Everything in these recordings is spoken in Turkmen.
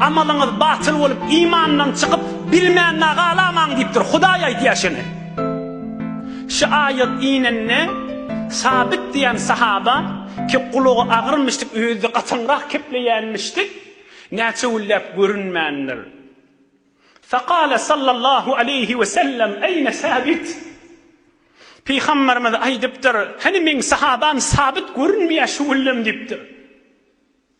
Amalyňyz batyl bolup, imandan çykyp, bilmände galamaň diýipdir. Hudaý aýdýar şony. Şu aýat inende, Sabit diýen sahaba, ki, gulagy agyrmyşdyk, özi-de gatyňrak kepleýänmişdik, näçe günläp görünmändir. Fekale sallallahu aleýhi we sellem, Eýne Sabit? Pygamberimiz aýdypdyr, Hany meň sahabam Sabit görünmeýär şu günlem diýipdir.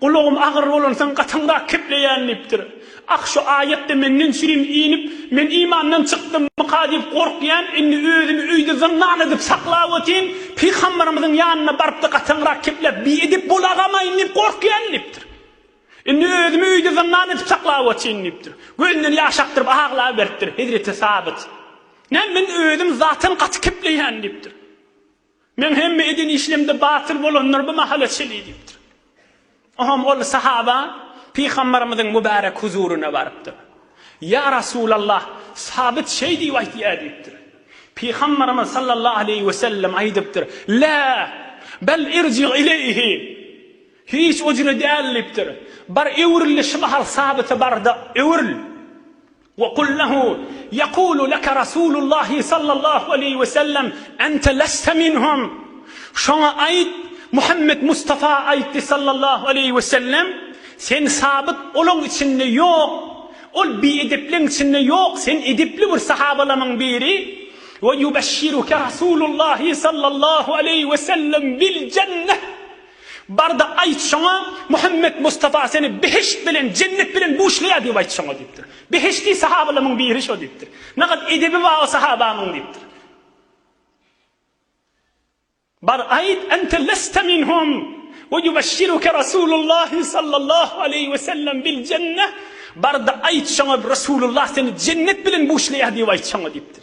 Gulagym agyr bolansoň gatyňrak kepleýän diýipdir. Ah, şu aýat-da menden süýüm inip, men imandan çykdymmyka diýip gorkýan, indi özümi öýde zyndan edip saklap otyryn, pygambarymyzyň ýanyna baryp-da gatyňrak kepläp, biedep bolagamaýyn diýip gorkýan diýipdir. Indi özümi öýde zyndan edip saklap otyryn diýipdir. Gözünden ýaş akdyryp aglaberipdir. Hezreti Sabyt, Näme, men özüm zaten gaty kepleýän diýipdir. Meň hemme eden işlemde batyl bolanlar bu mahala çenli diýipdir. Oňam ol sahaba Pygambarymyzyň mübärek huzuryna barypdyr. Ýa Rasulallah, Sabyt şeý diýip aýtýar diýipdir. Pygambarymyz sallallahu aleýhi wesellem aýdypdyr, Lä, bel irji ileýhi, hiç ojüne däl diýipdir. Bar öwrül-de şu mahal Sabyta bar-da, öwrül. Wa kul lehu, Yekulu leke Rasulullahi sallallahu aleýhi we sellem, Ente leste minhum, Şoňa aýt, Muhammet Mustafa aýtdy sallallahu aleýhi we sellem, Sen sabyt olaň içinde ýok, ol biedepleň içinde ýok, sen edepli bir sahabalamyň biri, Wa yubeshshiruke Rasulullahi sallallahu aleýhi we sellem bil jenneh, Bar-da, aýt şoňa, Muhammet Mustafa seni behişt bilen, jennet bilen buşlaýar diýip aýt şoňa diýipdir. Behişdi sahabalamyň biri şo diýipdir. Nagat edebi bar o sahabamyň diýipdir. Bar, aýt, Ente leste minhum we ýubeşşiruke Rasulullahi sallallahu aleýhi we sellem bil jenne, Bar-da, aýt şoňa, Rasulullah seni jennet bilen buşlaýar diýip aýt şoňa diýipdir.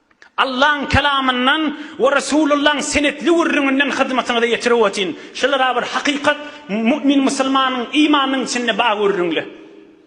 Allaň Kelamyndan we Resulullaň senetli gürrüňinden hyzmatyňyza ýetirip ötin. Şular-a bir hakykat, mümin musulmanyň imanynyň içinde bar gürrüňli.